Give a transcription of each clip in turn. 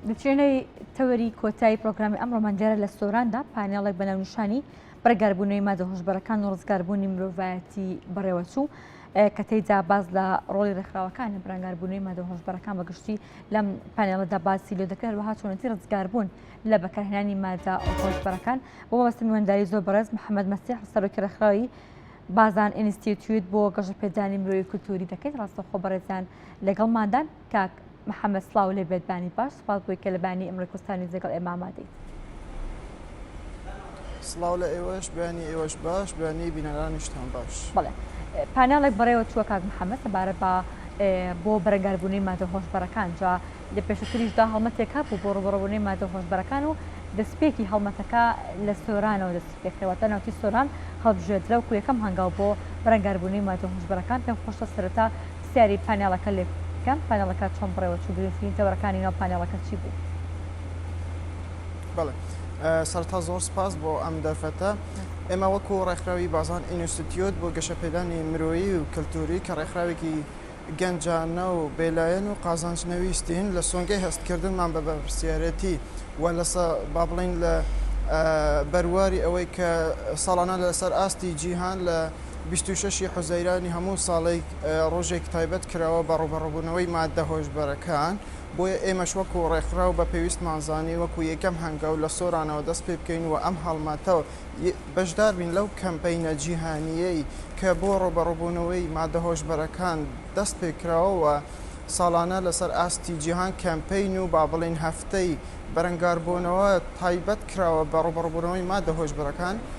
دچێنەی تەوەری کۆتایی پرۆگرامی ئەم ڕۆمانگەرە لە سۆراندا پانێڵێک بە ناونیشانی بڕگاربوونەوەی مادە هۆشبەرەکان و ڕزگاربوونی مرۆڤایەتی بەڕێوەچوو کە تێیدا باز لە ڕۆڵی ڕێکخراوەکان لە بەرەنگاربوونەوەی مادە هۆشبەرەکان بە گشتی لەم پانێڵەدا باسی لێ دەکرێت وەها چۆنەتی ڕزگاربوون لە بەکارهێنانی مادە هۆشبەرەکان بۆ وەستی نوێنداری زۆر بەڕێز محەممەد مەسیح سەرۆکی ڕێکخراوی بازان ئینستیتویت بۆ گەشەپێدانی مرۆی کولتوری دەکەیت ڕاستەخۆ بەڕێزیان لەگەڵماندان کاک محمد سڵاو لێ بێت بانی باش سپاس بۆی کە لە بانی ئمڕۆی کوردستانی جێگەڵ ئێمە ئامادەیت. سڵاو لە ئێوەش بانی ئێوەش باش بانی بینەرانیشتان باش. بەڵێ پاناڵێک بەڕێوە چووە کاک محەممەد سەبارە بە بۆ بەرەنگاربوونەی مادە هۆشبەرەکان جا لە پێشتریشدا هەڵمەتێک هەبوو بۆ ڕوبڕەبوونەی مادە هۆشبەرەکان و دەستپێکی هەڵمەتەکە لە سۆرانەوە دەست پێکرەوەتە ناوچی سۆران هەڵبژێدرا و کو یەکەم هەنگاو بۆ بەرەنگاربوونەی مادە هۆشبەرەکان پێم خۆشە سەرەتا سەیری پانێڵەکە لێبکەم پانێڵەکە چۆن بەڕێوە چوو گرنگترین تەوەرەکانی ناو پانێڵەکە چی بوو؟ بەڵێ سەرەتا زۆر سپاس بۆ ئەم دەرفەتە ئێمە وەکو ڕێکخراوی بازان ئینستیتیۆت بۆ گەشەپێدانی مرۆیی و کەلتوری کە ڕێکخراوێکی گەنجانە و بێلایەن و قازانج نەویستین لە سۆنگەی هەستکردنمان بە بەپرسیارەتی و لە با بڵین لە بەرواری ئەوەی کە ساڵانە لەسەر ئاستی جیهان لە بیست و شەش ی حوزەیرانی هەموو ساڵێک ڕۆژێک تایبەت کراوە بە ڕووبەڕووبوونەوەی ماددە هۆشبەرەکان، بۆیە ئێمەش وەکو ڕێکخراو بە پێویستمان زانی وەکو یەکەم هەنگاو لە سۆرانەوە دەست پێ بکەین و ئەم هەڵمەتە و بەشدار بین لەو کەمپەینە جیهانییەی کە بۆ ڕووبەڕووبوونەوەی ماددە هۆشبەرەکان دەست پێ کراوە و ساڵانە لەسەر ئاستی جیهان کەمپەین و با بڵێین هەفتەی بەرەنگاربوونەوە تایبەت کراوە بە ڕووبەڕووبوونەوەی ماددە هۆشبەرەکان.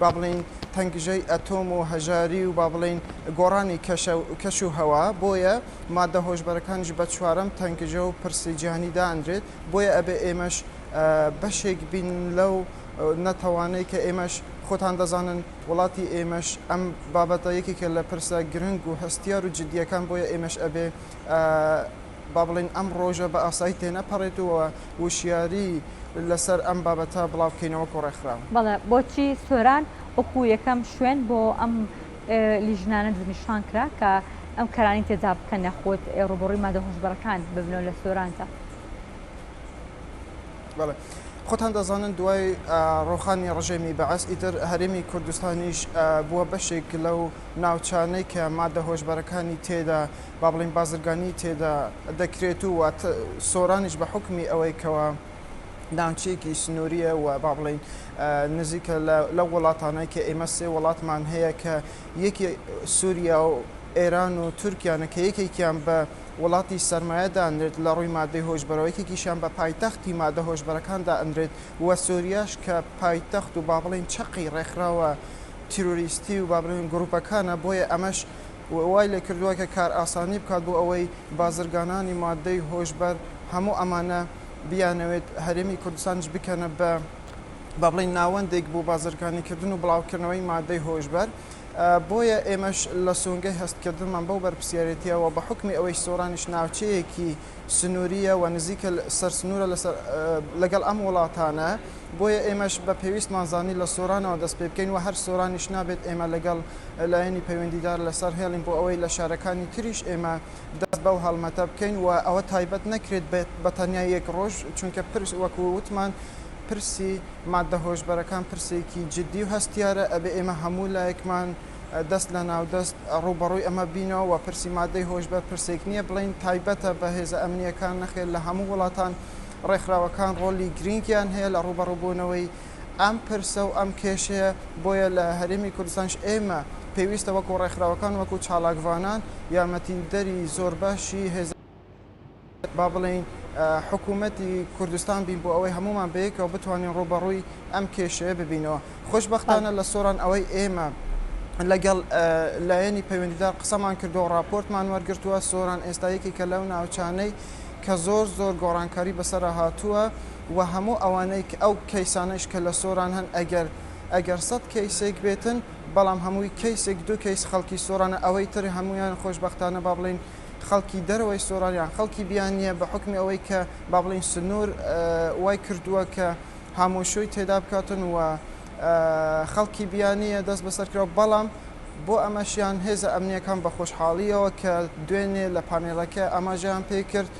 با بڵێین تەنگژەی ئەتۆم و هەژاری و با بڵێین گۆڕانی کەش و هەوا، بۆیە ماددە هۆشبەرەکانیش بە چوارەم تەنگژە و پرسی جیهانی دانرێت، بۆیە ئەبێ ئێمەش بەشێک بین لەو نەتەوانەی کە ئێمەش خۆتان دەزانن وڵاتی ئێمەش ئەم بابەتە یەکێکە لە پرسە گرنگ و هەستیار و جدییەکان، بۆیە ئێمەش ئەبێ با بڵێین ئەم ڕۆژە بە ئاسایی تێنەپەڕێت و وشیاری لەسەر ئەم بابەتە بڵاو بکەینە وەکو ڕێکخراو. بەڵێ بۆچی سۆران وەکو یەکەم شوێن بۆ ئەم لیژنانە دەستنیشان کرا کە ئەم کارانەی تێدا بکەن یاخود ڕووبەڕووی مادە هۆشبەرەکان ببنەوە لە سۆراندا؟ بەڵێ خۆتان دەزانن دوای ڕۆخانی ڕژێمی بەعس ئیتر هەرێمی کوردستانیش بووە بەشێک لەو ناوچانەی کە مادە هۆشبەرەکانی تێدا با بڵێین بازرگانیی تێدا دەکرێت و سۆرانیش بە حوکمی ئەوەی کەوا ناوچەیەکی سنوورییە و با بڵێین نزیکە لە لەو وڵاتانەی کە ئێمە سێ وڵاتمان هەیە کە یەکی سووریا و ئێران و تورکیانە کە یەکێکیان بە وڵاتی سەرمایە دانرێت لە ڕووی مادەی هۆشبەرەوە یەکێکیشیان بە پایتەختی مادە هۆشبەرەکان دانرێت و سووریاش کە پایتەخت و با بڵێین چەقی ڕێکخراوە تیرۆریستی و با بڵێین گرووپەکانە بۆیە ئەمەش و وای لێ کردووە کە کارئاسانی بکات بۆ ئەوەی بازرگانانی ماددەی هۆشبەر هەموو ئەمانە بیانەوێت هەرێمی کوردستانیش بکەنە بە با بڵێین ناوەندێک بۆ بازرگانیکردن و بڵاوکردنەوەی ماددەی هۆشبەر بۆیە ئێمەش لە سۆنگەی هەستکردنمان بەو بەرپرسیارێتییەوە بە حوکمی ئەوەی سۆرانیش ناوچەیەکی سنوورییە و نزیکە سەر سنوورە لەگەڵ ئەم وڵاتانە، بۆیە ئێمەش بە پێویستمان زانی لە سۆرانەوە دەست پێ بکەین و هەر سۆرانیش نابێت ئێمە لەگەڵ لایەنی پەیوەندیدار لەسەر هێڵین بۆ ئەوەی لە شارەکانی تریش ئێمە دەست بەو هەڵمەتە بکەین و ئەوە تایبەت نەکرێت بە تەنیا یەک ڕۆژ چونکە پرس وەکو وتمان پرسی ماددە هۆشبەرەکان پرسێکی جدی و هەستیارە ئەبێ ئێمە هەموو لایەکمان دەست لە ناو دەست ڕووبەڕووی ئەمە بینەوە و پرسی مادەی هۆشبەر پرسێک نییە بڵێین تایبەتە بە هێزە ئەمنییەکان، نەخێر لە هەموو وڵاتان ڕێکخراوەکان ڕۆڵی گرینگیان هەیە لە ڕووبەڕووبوونەوەی ئەم پرسە و ئەم کێشەیە، بۆیە لە هەرێمی کوردستانیش ئێمە پێویستە وەکو ڕێکخراوەکان وەکو چالاکڤانان یارمەتیدەری زۆربەشی با بڵێین حکوومەتی کوردستان بین بۆ ئەوەی هەموومان بەیەکەوە بتوانین ڕووبەڕووی ئەم کێشەیە ببینەوە. خۆشبەختانە لە سۆران ئەوەی ئێمە لەگەڵ لایەنی پەیوەندیدار قسەمان کردووە و ڕاپۆرتمان وەرگرتووە، سۆران ئێستا یەکێکە لەو ناوچانەی کە زۆر زۆر گۆڕانکاری بەسەرا هاتووە و هەموو ئەوانەی ئەو کەیسانەیش کە لە سۆران هەن ئەگەر ئەگەر سەد کەیسێک بێتن بەڵام هەمووی کەیسێک دوو کەیس خەڵکی سۆرانە ئەوەی تر هەموویان خۆشبەختانە با بڵێین خەڵکی دەرەوەی سۆران یان خەڵکی بیانییە بە حوکمی ئەوەی کە با بڵێین سنوور وای کردووە کە هامۆشۆی تێدا بکاتن و خەڵکی بیانییە دەست بەسەر کراوە بەڵام بۆ ئەمەشیان هێزە ئەمنیەکان بە خۆشحاڵیەوە کە دوێنێ لە پانێڵەکە ئاماژەیان پێی کرد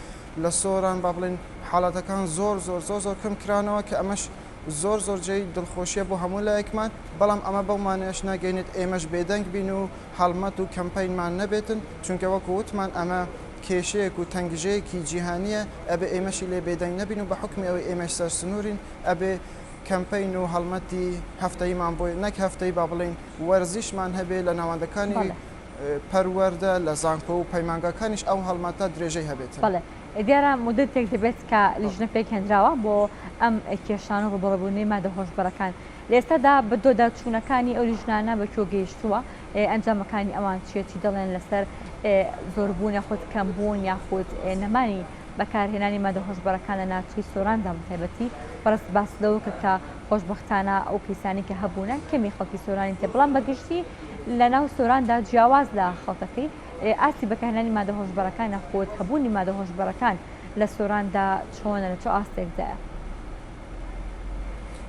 لە سۆران با بڵێین حاڵەتەکان زۆر زۆر زۆر زۆر کەم کرانەوە کە ئەمەش زۆر زۆر جێی دڵخۆشیە بۆ هەموو لایەکمان، بەڵام ئەمە بەو مانایەش ناگەینێت ئێمەش بێدەنگ بین و هەڵمەت و کەمپەینمان نەبێتن، چونکە وەکو وتمان ئەمە کێشەیەک و تەنگژەیەکی جیهانیە ئەبێ ئێمەشی لێ بێدەنگ نەبین و بە حوکمی ئەوەی ئێمەش سەرسنورین ئەبێ کەمپەین و هەڵمەتی هەفتەییمان بۆ نەک هەفتەیی با بڵێین وەرزیشمان هەبێ لە ناوەندەکانی پەروەردە لە زانکۆ و پەیمانگاکانیش ئەو هەڵمەتە درێژەی هەبێتن. دیارە موددەتێک دەبێت کە لیژنە پێکهێنراوە بۆ ئەم کێشانە و ڕووبەڕووبوونەی مادە هۆشبەرەکان، لە ئێستادا بەدواداچوونەکانی ئەو لیژنانە بە کوێ گەیشتووە، ئەنجامەکانی ئەوان چییە، چی دەڵێن لەسەر زۆربوون یاخود کەمبوون یاخود نەمانی بەکارهێنانی مادە هۆشبەرەکان لە ناوچەی سۆراندا بەتایبەتی، بەڕێزت باست لەوە کرد کە خۆشبەختانە ئەو کەیسانەی کە هەبوونە کەمی خەڵکی سۆرانی تێ بەڵام بەگشتی لەناو سۆراندا جیاواز لە خەڵکەکەی، ئاستی بەکارهێنانی مادە هۆشبەرەکانە خۆت هەبوونی مادە هۆشبەرەکان لە سۆراندا چۆنە لە چ ئاستێکدایە؟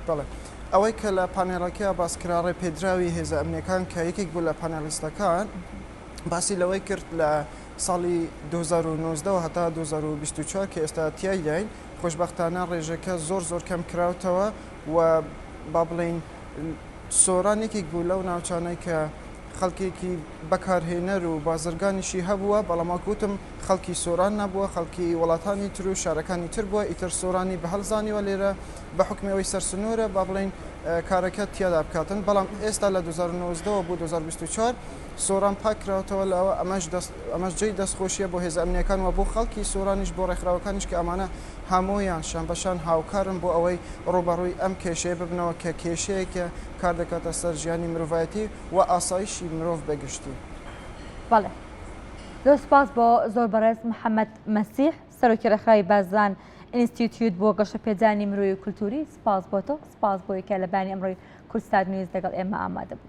بەڵێ ئەوەی کە لە پانێڵەکەیا باس کرا ڕێپێدراوی هێزە ئەمنیەکان کە یەکێک بوو لە پانێڵیستەکان باسی لەوەی کرد لە ساڵی 2019 هەتا 2024 کە ئێستا تیایداین خۆشببختانە ڕێژەکە زۆر زۆر کەم کراوتەوە و با بڵین سۆران یەکێک بوو لەو ناوچانەی کە خەڵکێکی بەکارهێنەر و بازرگانیشی هەبووە، بەڵام وەک وتم خەڵکی سۆران نەبووە، خەڵکی وڵاتانی تر و شارەکانی تر بووە، ئیتر سۆرانی بە هەڵ زانیوە لێرە بە حوکمی ئەوەی سەرسنوورە با بڵێین کارەکە تیادا بکاتن، بەڵام ئێستا لە دوو هەزار و نۆزدە وە بۆ دوو هەزار و بیست و چوار سۆران پاک کراوەتەوە لە ئەوە، ئەمەش جێی دەستخۆشییە بۆ هێزە ئەمنییەکان و بۆ خەڵکی سۆرانیش بۆ ڕێکخراوەکانیش کە ئەمانە هەموویان شانبەشان هاوکارن بۆ ئەوەی ڕووبەڕووی ئەم کێشەیە ببنەوە کە کێشەیەکە کار دەکاتە سەر ژیانی مرۆڤایەتی و ئاسایشی مرۆڤ بە گشتی. بەڵێ زۆر سپاس بۆ زۆر بەڕێز محەممەد مەسیح سەرۆکی ڕێکخراوی بازدان ئینستیتیوت بۆ گەشەپێدانی مرۆی و کولتووری سپاس بۆ تۆ سپاس بۆی کە لە بانی ئەمڕۆی کورسات نیوز لەگەڵ ئێمە ئامادە بوو.